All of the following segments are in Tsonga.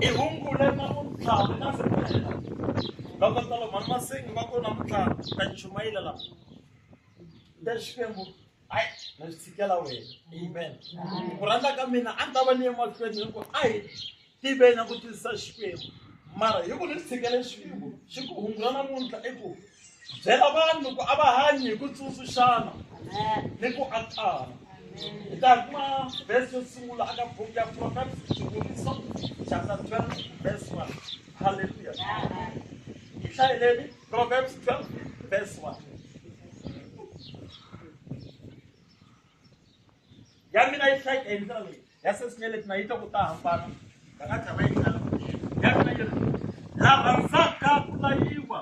i hungu leri nga ku tlhavi na fumela va kota lo mhani masengi va kona mutlhava ta chumayela la ta xikwembu hayi na swi tshikela wena amen ku rhandza ka mina a ni ta va ni emahlweni hi ku a hi tiveni ku twisisa xikwembu mara hi ku ni swi tshikele xikwembu xi ku hungula namuntlha i ku Byela vanhu ku a va hanyi hi ku tsundzuxana ni ku akana. Hi ta kuma vhesi yo sungula aka buku ya Proverbs Xikombiso chapter 12 verse 1. Haleluya. Hi hlayeleni Proverbs 12 verse 1. Ya mina yi hlayeka hi ndlela leyi ya sesine leti na yi ta ku ta hambana va nga tshama yi khala ya mina yi ri la rhandzaka ku layiwa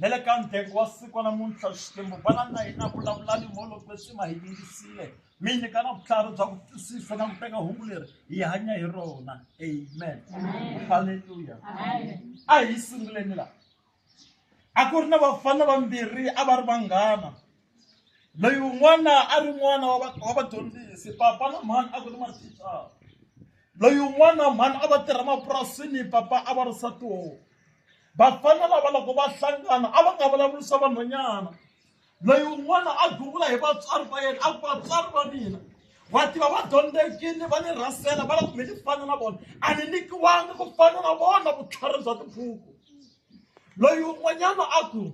na le ka ndhengo wa siku wa namuntlha xikwembu vana na hina vulavulani molokwe swi ma hi yingisile mi nyika na vutlhari bya ku twisisa na ku teka hungu leri hi hanya hi rona amen halleluya a hi sunguleni la a ku ri na vafana vambirhi a va ri vanghana loyi un'wana a ri n'wana wa wa vadyondzisi papa na mhani a ku ri mathicara loyi un'wana mhani a va tirha mapurasini papa a va ri satihoho vafana lava loko va hlangana a va nga vulavurisa vanhwanyana loyi un'wana a gungula hi vatswari va yena a ku vatswari va mina wa tiva va dyondzekile va ni rhasela va la kumbe ni fana na vona a ni nyikiwangi ku fana na vona vutlhari bya tibuku loyi un'wanyana a ku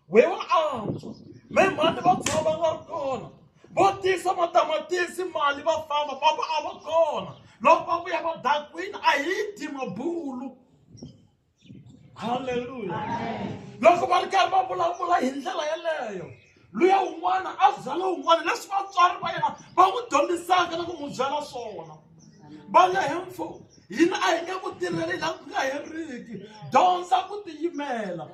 wehe wa antswa me mhani va tshama va nga ri kona vo tisa matamatisi mali va famba papa a va kona loko va vuya va dakwini a hi dyi mabulu halleluya loko va ri karhi va vulavula hi ndlela yeleyo luya un'wana a byala un'wana leswi vatswari va yena va n'wi dyondzisaka na ku n'wi byala swona va nga hemfo hina a hi nge ku tirheli laha ku nga heriki dyondza ku tiyimela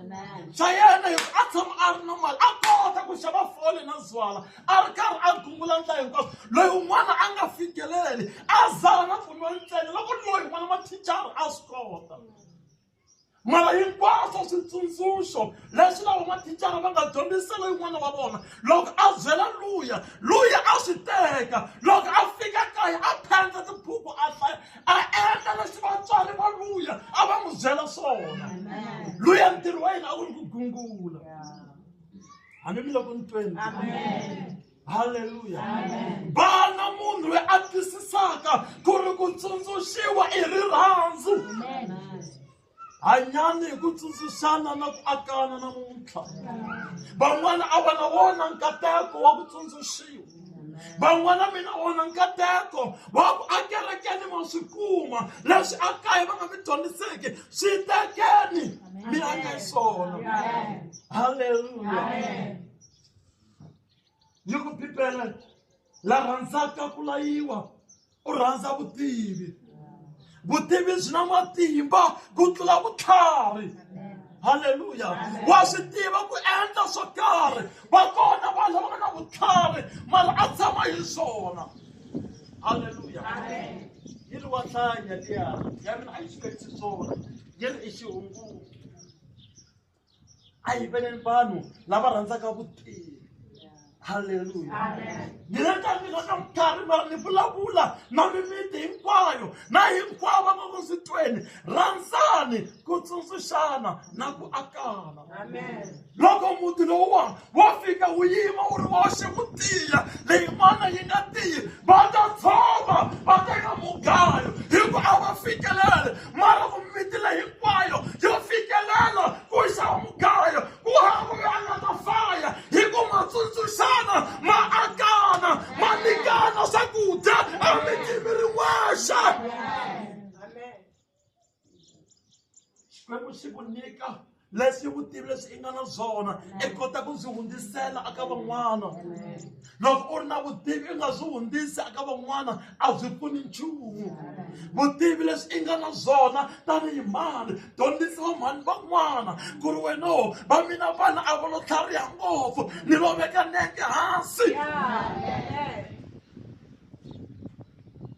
swa yena hi a tshama a ri na mali a kota ku xava fole na zwala a ri karhi a gungula ndla hinkwaswo loyi un'wana a nga fikeleli a zala na pfumiwa ntsena loko loyi n'wana mathicara a swi kota mara hinkwaswo switsundzuxo leswi lava mathicara va nga dyondzisela yin'wana wa vona loko a byela luya luya a swi teka loko a fika kaya a phenda tibuku a hlaya a endla leswi vatswari va luya a va n'wi byela swona luya ntirho wa yena a ku ri ku gungula hambi mi le ku ni tweni halleluya vana munhu loyi a twisisaka ku ri ku tsundzuxiwa i rirhandzu hanyani hi ku tsundzuxana na ku akana namuntlha van'wana a va na wona nkateko wa ku tsundzuxiwa van'wana mina wona nkateko wa ku akerekeni ma swi kuma leswi a kaya va nga mi dyondziseki swi tekeni mi anga swona halleluya yi ku bibele la rhandzaka ku layiwa u rhandza vutivi vutivi byi na matimba ku tlula vutlhari halleluya wa swi tiva ku endla swo karhi va kona vanhu lava nga na vutlhari mara a tshama hi swona halleluya yi ri wa hlaya liya ya mina a yi swi khetisi swona yi ri i xihunguku a yi vele vanhu lava rhandzaka vutivi halleluya ni rhandza mina ka vutlhari mara ni vulavula na mimiti hinkwayo na hinkwavo va nga swi tweni rhandzani ku tsundzuxana na ku akana loko muti lowuwa wo fika wu yima wu ri woxe wu tiya leyin'wana yi nga tiyi va ta tshova va teka mugayo hi ku a va fikelele mara ku miti leyi hinkwayo yo fikelela ku xava mugayo ku hava loyi a nga ta faya hi ku ma tsundzuxana ma akana ma nyikana swakudya emitimi rin'wexe xikwembu xi ku nyika leswi vutivi leswi i nga na swona i kota ku byi hundzisela aka van'wana loko u ri na vutivi i nga byi hundzisi aka van'wana a byi pfuni nchumu vutivi leswi i nga na byona tanihi mhani dyondzisa vamhani van'wana ku ri wena o va mina vana a va lo tlhariha ngopfu ni lo veka nenge hansi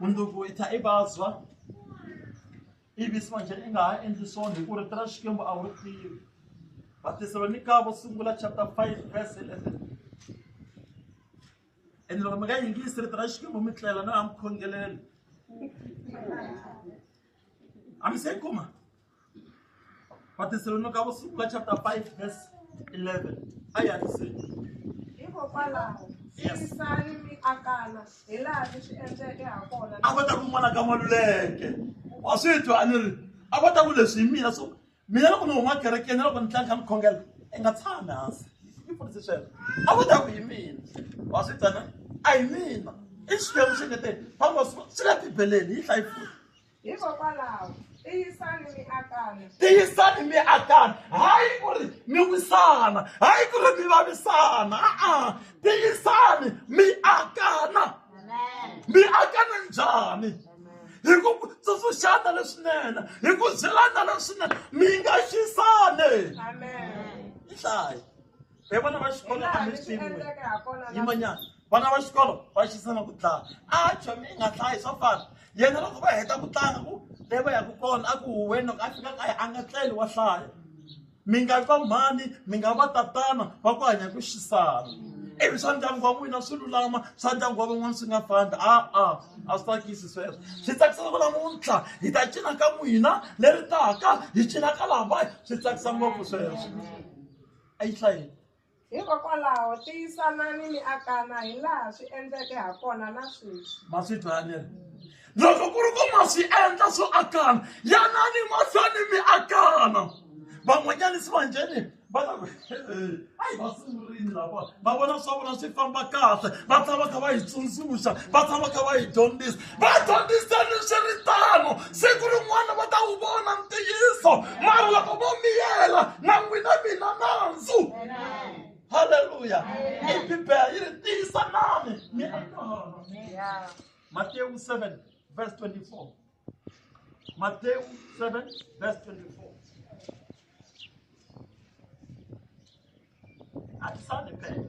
mundzuku yi tlha i vabya ivi swanje i nga ha endli swona hi ku rito ra xikwembu a wu ri tivi vatesalonika vo sungula chapter 5 verse 11 ene loko mi nga yingisi rito ra xikwembu mi tlela na ha mi khongelele a mi se yi kuma Vathesalonika vo sungula chapter 5 verse 11 a yi hatliseni hikokwalaho Yes. tiyisani mi akana hi laha mi swi endleke ha kona a va ta ku n'wana ka maluleke wa swi twa a ni ri a va ta ku leswi hi mina so mina loko ni huma kerekeni na loko ni tlanga kha ni khongela i nga tshami hansi ni pfunise sweswo a va ta ku hi mina wa swi twa na a hi mina i xikwembu xi ngeteni famba swi le bibeleni yi hlayi futhi hikokwalaho tiyisani mi akana tiyisani mi akana hayi ku ri mi wisana hayi ku ri mi vavisana a-a tiyisani mi akana mi akana njhani hi ku tsundzuxana leswinene hi ku byelana leswinene mi nga xisane yi hlayi hi vona va xikolo a mi swi yimanyana vana va xikolo va xisana ku dlaya a chomi i nga dlayi swa fana yena loko va heta ku tlanga ku le va yaka kona a ku huweni loko a fika kaya a nga tleli wa hlaya mi nga va mhani mi nga va tatana va ku hanya ku xisana ivi swa ndyangu wa n'wina swi lulama swa ndyangu wa van'wana swi nga fambi a-a a swi tsakisi sweswo swi tsakisa ku namuntlha hi ta cina ka n'wina leri taka hi cina ka lavaya swi tsakisa ngopfu sweswo a yi hlayini Hikokwalaho tiyisanani mi akana hi laha swi endleke ha kona na sweswi. Ma swi twa ni ri. Loko ku ri ku ma swi endla swo akana, yanani mahlweni mi akana. Van'wanyani se va njheni va ta ku hayi va sungurile lava va vona swa vona swi famba kahle va tshama va kha va yi tsundzuxa va tshama va kha va yi dyondzisa. va dyondzisa leswi ri tano siku rin'wana va ta wu vona ntiyiso mara loko vo miyela na n'wina mina nandzu halleluya i bibele yi ri tiyisa nani mi anana matewu 7 verse 24 matewu 7 verse 24 At Sunday Pay.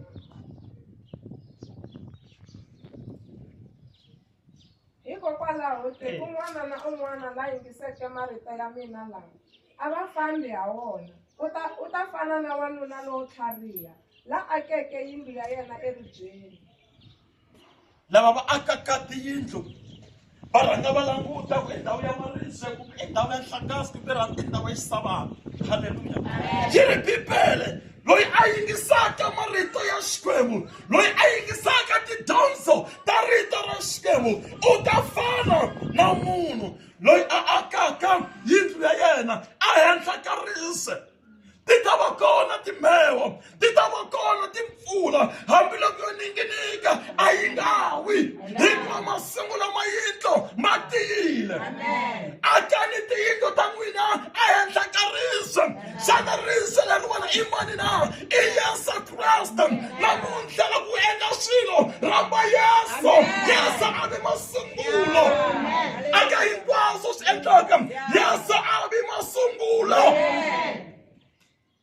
hikokwalaho tiko n'wana na un'wana la yingiseke marito ya mina lawa a va fambi ha wona u ta u ta fana na wanuna lowo tlhariha la akeke yindlu ya yena eribyeni lava va akaka tiyindlu va rhanga va languta ku i ndhawu ya marise kumbe i ndhawu ya nhlangasi kumbe ra i ndhawu ya xisavana halleluya yi ri bibele loyi a yingisaka marito ya xikwembu loyi a yingisaka tidyondzo ta rito ra xikwembu u ta fana na munhu loyi a akaka yindlu ya yena ehenhla ka rise ti ta va kona timheho ti ta va kona timpfula hambiloko yo ninginika a yi nga wi hikuva masungu lama yindlo ma tiyile akani tiyindlo ta n'wina ehenhla ka riso xana riso leri wena i mani na i yesu kreste namuntlha la ku endla swilo rhamba yesu yesu a vi masungulo aka hinkwaswo swi endlaka yesu a ri masungulo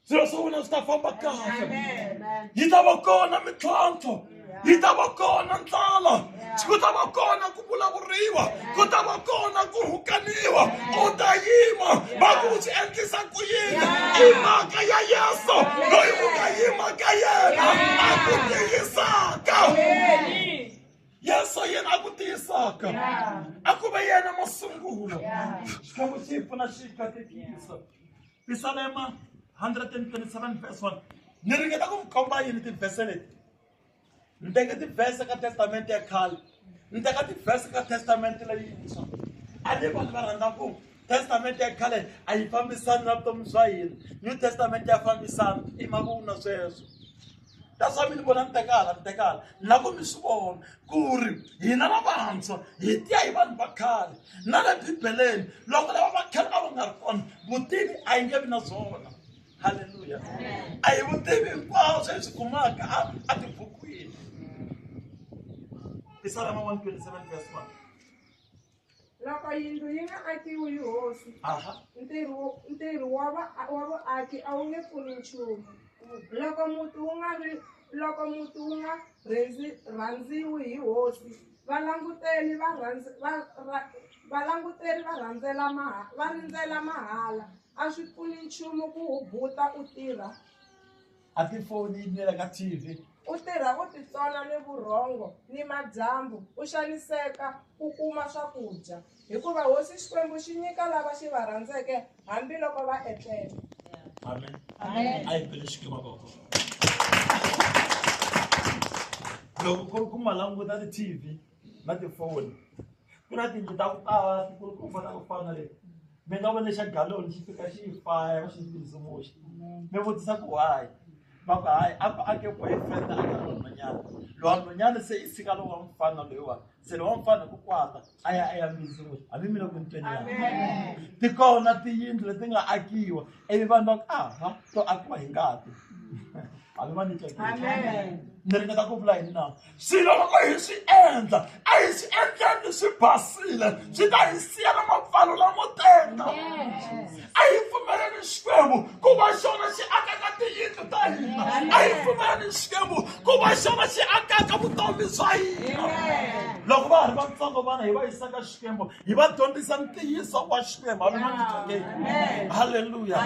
swilo swa wena swi ta famba kahle yi ta va kona mintlhontlho yi ta va kona ndlala ku ta va kona ku vulavuriwa ku ta va kona ku rhukaniwa u ta yima va ku swi endlisa ku yini i mhaka ya yesu loyi u nga yima ka yena a ku tiyisaka yesu yena a ku tiyisaka a ku ve yena masungulo xikwembu xi hi pfuna xi katekisa pisalema 127 verse 1 ni ringeta ku mi komba yini tivhese leti ni teke tivhese ka testamente ya khale ni teka tivhese ka testamente leyintshwa a ni vanhu va rhandza ku testamente ya khale a yi fambisani na vutomi bya hina new testamente ya fambisana i mavun'wa sweswo that's why mi ni vona ni tekala ni tekala na ku mi swi vona ku ri hina lavantshwa hi tiya hi vanhu va khale na le bibeleni loko lava va khale a va nga ri kona vutivi a yi nge vi na byona halleluya a hi vutivi hinkwaswo hi swi kumaka a a tibukwini i salama 127 verse 1 Loko yindlu yi nga akiwi yi hosi, Aha. ntirho wo- ntirho wa va- wa vaaki a wu nge pfuni nchumu. Loko muti wu nga ri loko muti wu nga rhendzi- rhandziwi hi hosi, valanguteli va rhandz- va- ra- valanguteri va rhandzela maha- va rindzela mahala. A swi pfuni nchumu ku wu buta u tirha a ti foni yi biyela ka t v u tirha u titsona ni vurhongo ni madyambu u xaniseka u kuma swakudya hikuva hosi xikwembu xi nyika lava xi va rhandzeke hambiloko va etlele amen a yi pele xikiva koko loko ku ri ku ma languta ti-tv na tifoni ku na tiyindlu ta ku tala tikulu ku fana ku fana le mi nga vona xa galoni xi fika xi faya va xi ndzindzumuxa mi vutisa ku hayi va ku hayi a ku ake boyfriend a ka nhonyana lowa nhonyana se i sika lowa mfana loyiwani se lowa mfana ku kwata a ya a ya mbindzimuxa hambi mi le ku ntweni ya ti kona tiyindlu leti nga akiwa ivi vanhu va ku aha to akiwa hi ngati hambi va ni tsakile ni ringeta ku vula yini na swilo loko hi swi endla a hi swi endleni swi basile swi ta hi siya na mapfalo lamo tenga a hi pfumeleni xikwembu ku va xona xi akaka tiyindlu ta hina a hi pfumeleni xikwembu ku va xona xi akaka vutomi bya hina loko va ha ri vatsongo vana hi va yisaka xikwembu hi va dyondzisa ntiyiso wa xikwembu halleluya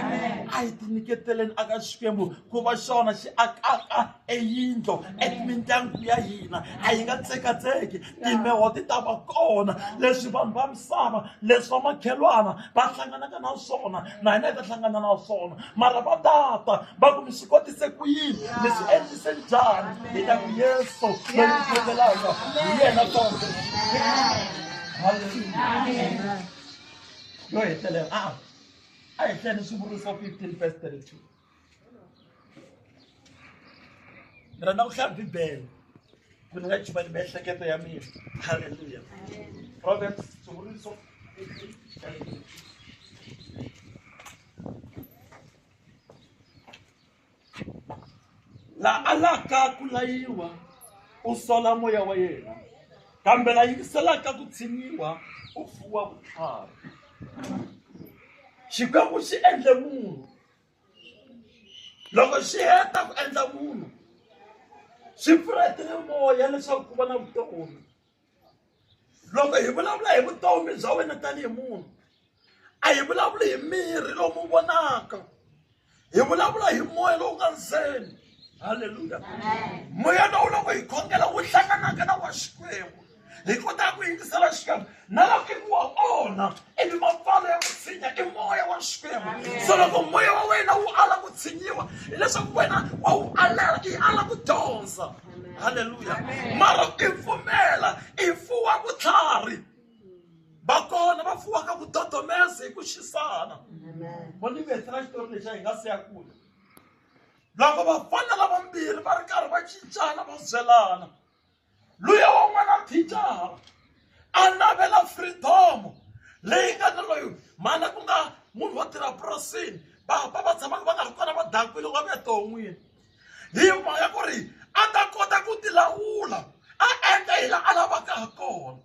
a hi tinyiketeleni aka xikwembu ku va xona xi akaka eyindlo emindyangu ya hina a yi nga tsekatseki timbeho ti ta va kona leswi vanhu va misava leswi va makhelwana va hlanganaka na swona na hina hi ta hlangana na swona mara va tata va ku mi swi kotise ku yini mi swi endlise njhani hi ta ku yesu loyi ku tlekelaka hi yena konke yo hetelela a a hi hleni swivuriso fifteen verse thirty two ni rhandza ku hlaya bibele ku ni nga chivani miehleketo ya mina halleluya proverbs sunguriso la alaka ku layiwa u sola moya wa yena kambe la yingiselaka ku tshinyiwa u fuwa vutlhari xikwembu xi endle munhu loko swi heta ku endla munhu swi pfula timoya leswaku ku va na vutomi loko hi vulavula hi vutomi bya wena tanihi munhu a hi vulavuli hi miri lowu vonaka hi vulavula hi moya lowu nga ndzeni halleluya moya lowu loko hi khongela wu hlanganaka na wa xikwembu hi kotaka ku yingisela xikwembu na lakini wa onha ivi mapfalo ya ku tshinya i moya wa xikwembu so loko moya wa wena wu ala ku tshinyiwa hileswaku wena wa wu alela i ala ku dyondza halleluya mara i pfumela i fuwa vutlhari va kona va fuwaka ku dodomesa hi ku xisana voni vetela xitori lexi a hi nga siya kule loko vafana lavambirhi va ri karhi va cincana va byelana luya wan'wana thicara a navela freedom leyi nga ni loyi mhana ku nga munhu wo tirha purasini vapa va tshamaka va nga ri kona va dakwile wa veton'wini hi mhaka ku ri a ta kota ku tilawula a endla hi laha a lavaka ha kona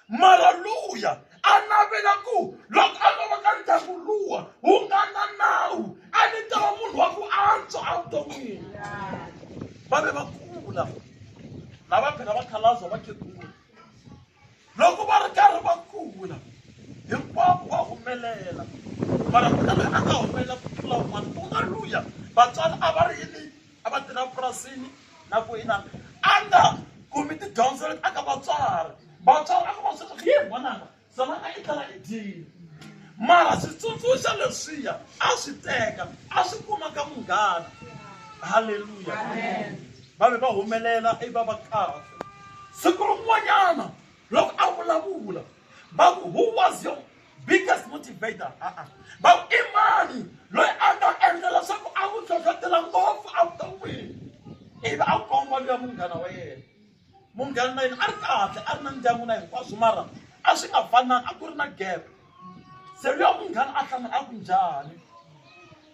mara luya a navela ku loko a lova ka ndyangu luwa wu nga na nawu a ni ta va munhu wa ku antswa evuton'wini va ve va kula na va phela va khalaza va khegula loko va ri karhi va kula hinkwavo va humelela mara ku na loyi a nga humelela ku tlula un'wana ku nga luya vatswari a va ri yini a va tirha purasini na ku ina a nga kumi tidyondzo leti aka vatswari vatswari a nga va sweswi yi vonaka zona a yi tala yi dyile mara switsundzuxa leswiya a swi teka a swi kuma ka munghana halleluya va ve va humelela i va va kahle siku rin'wanyana loko a vulavula va ku who was your biggest motivator a-a va i mani loyi a nga endla leswaku a ku hlohlotela ngopfu evuton'wini ivi a komba luya munghana wa yena munghana na yena a ri kahle a ri na ndyangu na hinkwaswo mara a swi nga fananga a ku ri na gap se luya munghana a hlamula a ku njhani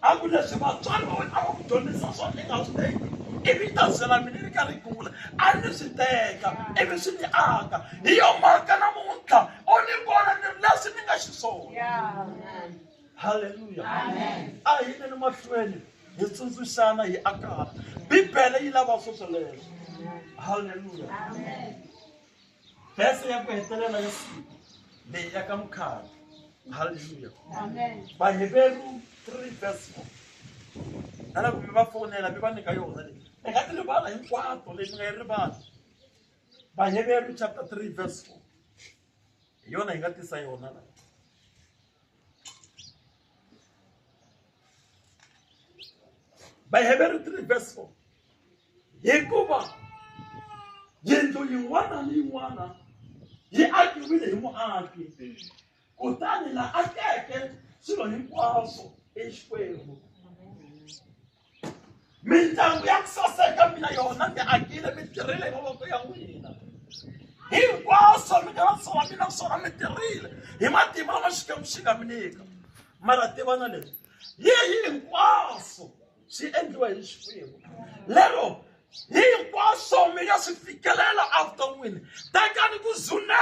a ku leswi vatswari va wena a va ku dyondzisa swona i nga swi teki ivi ta zela mina ri karhi gula a ni swi teka ivi swi ni aka hi yo mhaka namuntlha u ni vona ni ri leswi ni nga xiswona halleluya a hi yineni mahlweni hi tsundzuxana hi akana bibele yi lava sweswo leswo halleluya Verse ya ku hetelela ya siku leyi ya ka mukhavi. Hallelujah. Amen. Baheberu 3 verse 4. Ala ku mi va fonela mi va nyika yona leyi. Mi nga ti rivala hinkwato leyi mi nga yi rivala. Baheberu chapter 3 verse 4. Hi yona hi nga tisa yona la. Baheberu 3 verse 4. hikuva yindlu yin'wana ni yin'wana yi akiwile hi muaki kutani la akeke swilo hinkwaswo exikwembu mindyangu ya ku saseka mina yona mi akile mi tirhile hi mavoko ya n'wina hinkwaswo mi nga vatsova mina swona mi tirhile hi matimba lama xikwembu xi nga mi nyika mara tivana leswi yi hinkwaswo swi endliwa hi xikwembu lero hinkwaswo mi nga swi fikelela evuton'wini tekani ku zuneka